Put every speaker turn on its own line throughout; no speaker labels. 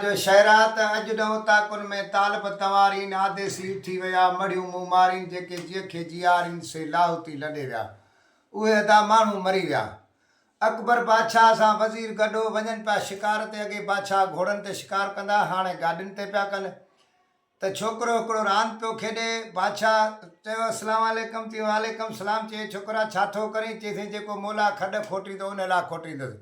جو شعرا ته اڄ نه اوطاقن ۾ طالب تنوارين آديسي ٺھي ويا مڙھيون مون مارين جيڪي جيء کي جيارين سي لاھوتي لڏي ويا اھي ادا ماڻھو مري ويا اڪبر بادشاھه سان وزير گڏھو وڃن پيا شڪار تي اڳي بادشاھه گھوڙن تي شڪار ڪندا ھاڻي گاڏين تي پيا ڪن ته ڇوڪرو هڪڙو راند پيو کيڏي، بادشاهه چيو السلام عليڪم تي وعليڪم السلام چئي ڇوڪرا ڇا ٿو ڪرين؟ چيسين جيڪو مولا کڏ کوٽيندو ان لا کوٽيندس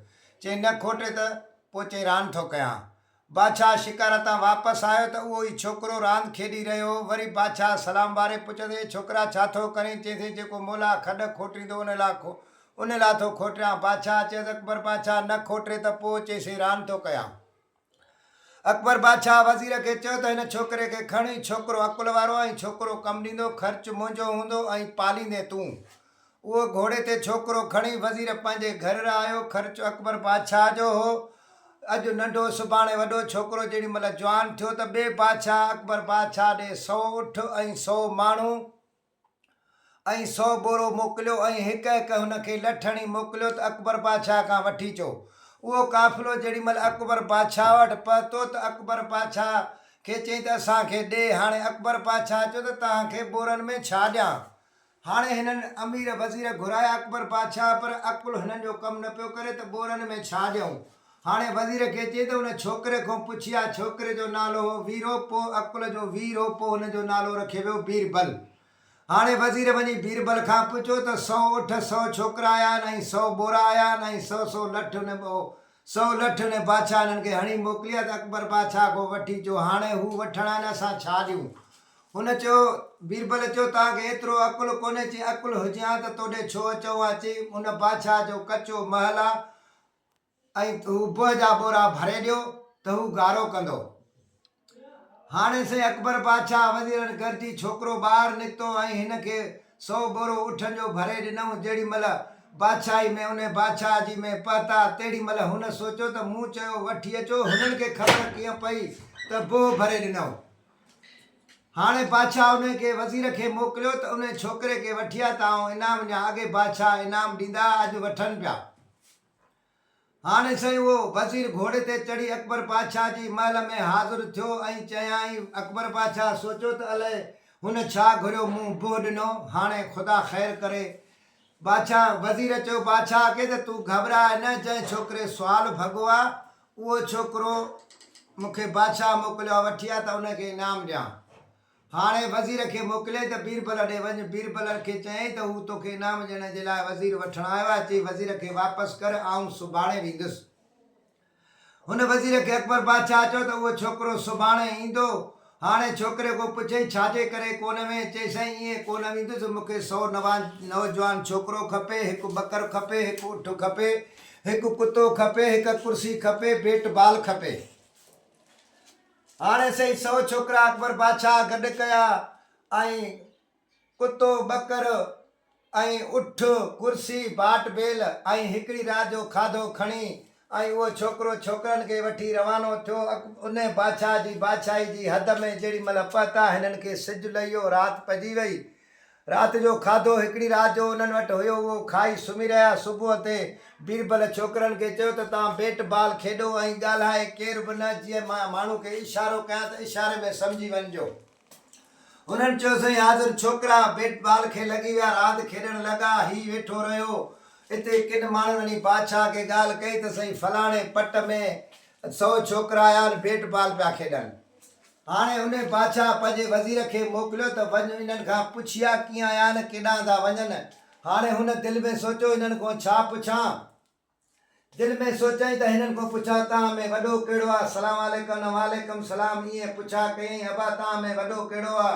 چئين نه کوٽي ته پوء چئين راند ٿو ڪيان بادشاهه شڪار تان واپس آيو ته اهو ئي ڇوڪرو راند کيڏي رهيو هو وري بادشاهه سلام واري پڇيس اي ڇوڪرا ڇا ٿو ڪرين؟ چيسين جيڪو مولا کڏ کوٽيندو ان لا ان لا ٿو کوٽيان بادشاهه چيس اڪبر بادشاهه نه کوٽي ته پوء چيسين راند ٿو ڪيان. اڪبر بادشاهه وزير کي چيو ته هن ڇوڪري کي کڻ، هي ڇوڪرو عقل وارو ۽ ڇوڪرو ڪم ڏيندو، خرچ منهنجو هوندو ۽ پاليندين تون. اهو گهوڙي تي ڇوڪرو کڻي وزير پنهنجي گهر رهايو. خرچ اڪبر بادشاهه جو هو. اڄ ننڍو سڀاڻي وڏو ڇوڪرو جيڏي مهل جوان ٿيو ته ٻئي بادشاهه اڪبر بادشاهه ڏي سؤ اٺ ۽ سؤ ماڻهو ۽ سو بورو موڪليو ۽ هڪ هڪ هن کي لٺ هڻي موڪليو ته اڪبر بادشاهه کان وٺي اچو. اهو قافلو جيڏي مهل اڪبر بادشاهه وٽ پهتو ته اڪبر بادشاهه کي چيائين ته اسان کي ڏي. هاڻي اڪبر بادشاهه چيو ته توهان کي بورن ۾ ڇا ڏيان؟ هاڻي هنن امير وزير گهرايا اڪبر بادشاهه پر عقل هنن جو ڪم نه پيو ڪري ته بورن ۾ ڇا ڏيون؟ هاڻي وزير کي چئي ته ان ڇوڪري کان پڇي آء ڇوڪري جو نالو هو ويرو پوء عقل جو وير هو پوء هن جو نالو رکيو ويو بيربل هاڻي وزير وڃي بيربل کان پڇيو ته سؤ اٺ سؤ ڇوڪرا آيا آهن ۽ سؤ ٻورا آيا آهن ۽ سؤ سؤ لٺ ان ٻئو سؤ لٺ ان بادشاهه انهن کي هڻي موڪلي آهي ته اڪبر بادشاهه کان وٺي جو هاڻي هو وٺڻ آهن اسان ڇا ڏيون هن چيو بيربل چيو توهان کي ايترو عقل ڪونهي چي عقل هجي ها ته توڏي ڇو اچون ها چي ان بادشاهه جو ڪچو محل آهي ۽ هو بهه جا ٻورا ڀري ڏيو ته هو گارو ڪندو. هاڻي سائين اڪبر بادشاهه وزيرن گڏجي ڇوڪرو ٻاهر نڪتو ۽ هن کي سو ٻورو اٺن جو ڀري ڏنائون جهڙي مهل بادشاهي ۾ انهي بادشاهه جي ۾ پهتا تهڙي مهل هن سوچيو ته مون چيو وٺي اچو هنن کي خبر ڪيئن پئي ته بهه ڀري ڏنائون. هاڻي بادشاهه انهي کي وزير کي موڪليو ته انهي ڇوڪري کي وٺي آ ته آئون انعام ڏيان اڳي بادشاهه انعام ڏيندا اڄ وٺن پيا. هاڻي سائين اهو وزير گهوڙي تي چڙهي اڪبر بادشاهه جي محل ۾ حاضر ٿيو ۽ چيائين اڪبر بادشاهه سوچيو ته الئي هن ڇا گهريو مون بهه ڏنو هاڻي خدا خير ڪري بادشاهه وزير چيو بادشاهه کي ته تون گهٻراء نه جنهن ڇوڪري سوال ڀڳو آ اهو ڇوڪرو مون کي بادشاهه موڪليو آ وٺي آ ته ان کي انعام ڏيان هاڻي وزير کي موڪلي ته بيربل ڏي وڃ. بيربل کي چيائين ته هو توکي انعام ڏيڻ جي لاء وزير وٺڻ آيو آهي. چي وزير کي واپس ڪر، آئون سڀاڻي ويندس. هن وزير کي اڪبر بادشاهه چيو ته اهو ڇوڪرو سڀاڻي ايندو. هاڻي ڇوڪري کان پڇيائين ڇا جي ڪري ڪونه وئين؟ چيس سائين ائين ڪونه ويندس، مون کي سؤ نوجوان ڇوڪرو کپي، هڪ ٻڪر کپي، هڪ اٺ کپي، هڪ ڪتو کپي، هڪ ڪرسي کپي، بيٽ بال کپي. هاڻي سهي سؤ ڇوڪرا اڪبر بادشاهه گڏ ڪيا ۽ ڪتو، ٻڪر ۽ اٺ، ڪرسي، باٽ بيل ۽ هڪڙي رات جو کاڌو کڻي ۽ اهو ڇوڪرو ڇوڪرن کي وٺي روانو ٿيو. انهيء بادشاهه جي بادشاهي جي حد ۾ جيڏي مهل پهتا، هنن کي سج لهيو، رات پئجي وئي ۽ رات جو کاڌو هڪڙي رات جو انهن وٽ هيو اهو کائي سمهي رهيا. صبح تي بيربل ڇوڪرن کي چيو ته توهان بيٽ بال کيڏو ۽ ڳالهائي ڪير به نه جيئن مان ماڻهو کي اشارو ڪيان ته اشاري ۾ سمجهي وڃجو. هنن چيو سائين حاضر ڇوڪرا بيٽ بال کي لڳي ويا راند کيڏڻ لڳا هي ويٺو رهيو اتي ڪن ماڻهن وڃي بادشاهه کي ڳالهه ڪئي ته سائين فلاڻي پٽ ۾ سئو ڇوڪرا آيا آهن بيٽ بال پيا کيڏن. هاڻي ان بادشاهه پنهنجي وزير کي موڪليو ته وڃ انهن کان پڇيا ڪيئن آيا آهن ڪيڏانهن ٿا وڃن. هاڻي هن دل ۾ سوچيو هنن کون ڇا پڇان؟ دل ۾ سوچيائين ته هنن کون پڇان توهان ۾ وڏو ڪهڙو آ؟ سلام عليڪم انهن وعليڪم سلام ائين پڇا ڪيائين ابا توهان ۾ وڏو ڪهڙو آ؟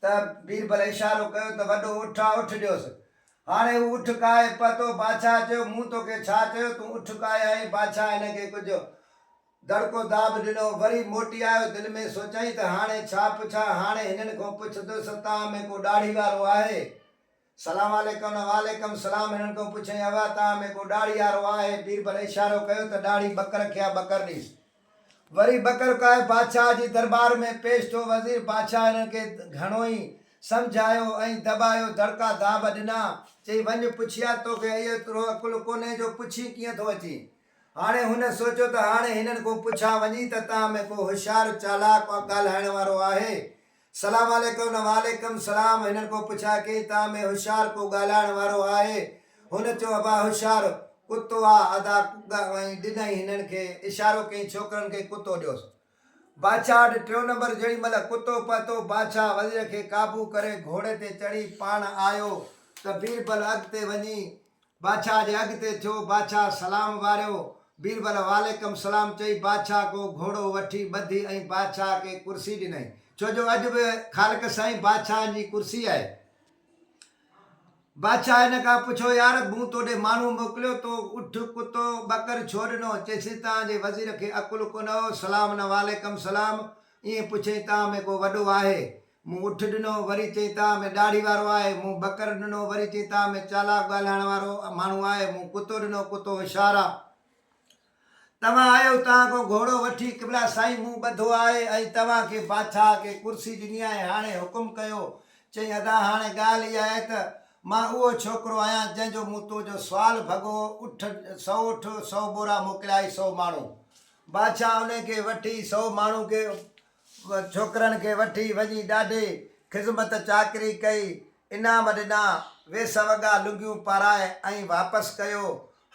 ته بيربل اشارو ڪيو ته وڏو اٺ آ اٺ ڏيوس. هاڻي هو اٺ ڪاهي پهتو بادشاهه چيو مون توکي ڇا چيو تون اٺ ڪاهي آئين بادشاهه هن کي ڪجهه. دڙڪو داب ڏنو، وري موٽي آيو، دل ۾ سوچيائين ته هاڻي ڇا پڇان، هاڻي هنن کان پڇندس تان ۾ ڪو ڏاڙهي وارو آهي؟ سلام عليڪم نه وعليڪم سلام هنن کان پڇيائين ابا تان ۾ ڪو ڏاڙهي وارو آهي؟ بيربل اشارو ڪيو ته ڏاڙهي ٻڪر کي آ ٻڪر نيس. وري ٻڪر ڪاهي بادشاهه جي دربار ۾ پيش ٿيو، وزير بادشاهه هنن کي گهڻو ئي سمجهايو ۽ دٻايو، دڙڪا داب ڏنا، چئي وڃ پڇي آ، توکي ايترو عقل ڪونهي جو پڇين ڪيئن ٿو اچين؟ هاڻي هن سوچيو ته هاڻي هنن کون پڇان وڃي ته تان ۾ ڪو هوشيار چالاڪ ڳالهائڻ وارو آهي. سلام عليڪم نه وعليڪم سلام هنن کون پڇان ڪي تان ۾ هوشيار ڪو ڳالهائڻ وارو آهي. هن چيو ابا هوشيار ڪتو آ ادا ۽ ڏنائين هنن کي اشارو ڪيائين ڇوڪرن کي ڪتو ڏيوس. بادشاهه وٽ ٽيون نمبر جيڙي مهل ڪتو پهتو بادشاهه وزير کي قابو ڪري گهوڙي تي چڙهي پاڻ آيو ته بيربل اڳتي وڃي بادشاهه جي اڳتي ٿيو، بادشاهه سلام واريو، بيربل وعليڪم السلام چئي بادشاهه ڪو گهوڙو وٺي ٻڌي ۽ بادشاهه کي ڪرسي ڏنائين. ڇو جو اڄ به خالق سائين بادشاهن جي ڪرسي آهي. بادشاهه هن کان پڇيو يار مون توڏي ماڻهو موڪليو تو اٺ ڪتو ٻڪر ڇو ڏنو؟ چيسين تان جي وزير کي عقل ڪونه هو سلام نه وعليڪم السلام ائين پڇيائين، تان ۾ ڪو وڏو آهي؟ مون اٺ ڏنو، وري چيائين، تان ۾ ڏاڙهي وارو آهي؟ مون ٻڪر ڏنو، وري چيائين، تان ۾ چالاڪ ڳالهائڻ وارو ماڻهو آهي؟ مون ڪتو ڏنو، ڪتو هوشيار آ. توهان آيو، توهان کان گهوڙو وٺي، قبلا سائين مون ٻڌو آهي ۽ توهان کي بادشاهه کي ڪرسي ڏني آهي، هاڻي حڪم ڪيو. چيائين، ادا هاڻي ڳالهه اها آهي ته مان اهو ڇوڪرو آهيان، جنهن جو مون تو جو سوال ڀڳو، اٺ سئو اٺ، سئو ٻورا موڪليائي، سئو ماڻهو. بادشاهه انهن کي وٺي سو ماڻهو ڪيو. ڇوڪرن کي وٺي وڃي ڏاڍي خذمت چاڪري ڪئي، انعام ڏنا، ويس وڳا لنگيون پارائي ۽ واپس ڪيو.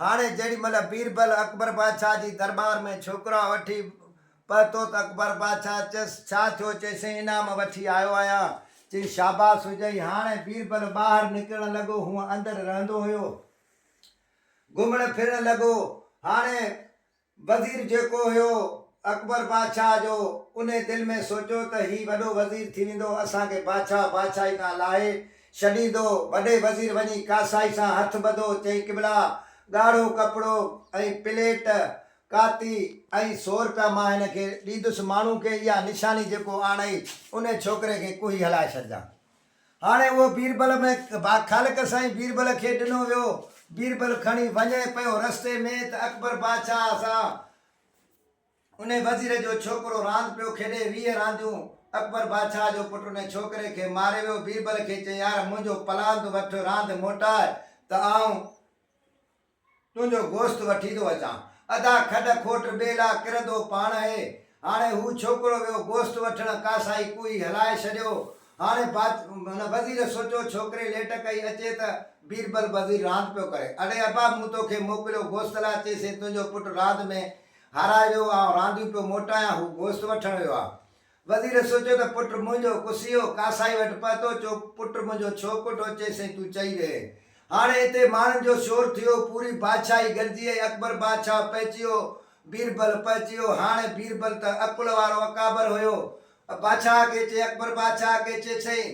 هاڻي جيڏي مهل بيربل اڪبر بادشاهه جي درٻار ۾ ڇوڪرا وٺي پهتو ته اڪبر بادشاهه چيس ڇا ٿيو؟ چيسين انعام وٺي آيو آهيان. چيائين شاباس هجئي. هاڻي بيربل ٻاهر نڪرڻ لڳو، هونء اندر رهندو هيو. گهمڻ ڦرڻ لڳو. هاڻي وزير جيڪو هيو اڪبر بادشاهه جو، انهي دل ۾ سوچيو ته هي وڏو وزير ٿي ويندو، اسان کي بادشاهه بادشاهي کان لاهي ڇڏيندو. وڏي وزير وڃي ڪاسائي سان هٿ ٻڌو، چئين قبلا! ڳاڙهو ڪپڙو ۽ پليٽ، ڪاتي ۽ سو رپيا مان هن کي ڏيندس، ماڻهو کي اها نشاني جيڪو آڻئي، انهي ڇوڪري کي ڪوهي هلائي ڇڏجان. هاڻي اهو بيربل ۾ خالق سائين بيربل کي ڏنو ويو. بيربل کڻي وڃي پيو رستي ۾ ته اڪبر بادشاهه سان انهي وزير جو ڇوڪرو راند پيو کيڏي ويهه رانديون. اڪبر بادشاهه جو پٽ انهي ڇوڪري کي ماري ويو. بيربل کي چيائين يار منهنجو پلاند وٺ راند موٽاء ته آئون تنهنجو گوشت وٺي ٿو اچان. ادا کڏ کوٽ ٻيلا ڪرندو پاڻ اهي. هاڻي هو ڇوڪرو ويو گوشت وٺڻ ڪاسائي ڪوئي هلائي ڇڏيو. هاڻي بادشاهه وزير سوچيو ڇوڪري ليٽ ڪئي اچي ته بيربل وزير راند پيو ڪري. اڙي ابا مون توکي موڪليو گوشت لاء چيسين تنهنجو پٽ راند ۾ هارائي ويو آئون رانديون پيو موٽايان هو گوشت وٺڻ ويو آ. وزير سوچيو ته پٽ منهنجو ڪسيو ڪاسائي وٽ پهتو، چيو پٽ منهنجو ڇو ڪوٺو؟ چيس سائين تون چئي رهي. هاڻي اتي ماڻهن جو شور ٿيو، پوري بادشاهي گڏجي آئي، اڪبر بادشاهه پهچيو، بيربل پهچيو، هاڻي بيربل ته عقل وارو اڪابر هيو، بادشاهه کي چي اڪبر بادشاهه کي چي سائين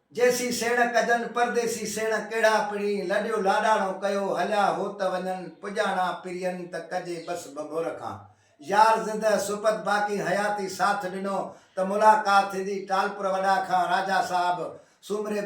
جيسين سيڻ ڪجن پرديسي سيڻ ڪهڙا پڻي لڏيو لاڏاڻو ڪيو هليا هو ته وڃن پڄاڻا پرين ته ڪجي بس ڀڀور کان يار زده سپت باقي حياتي ساٿ ڏنو ته ملاقات ٿيندي ٽالپر وڏا کان راجا صاحب سومري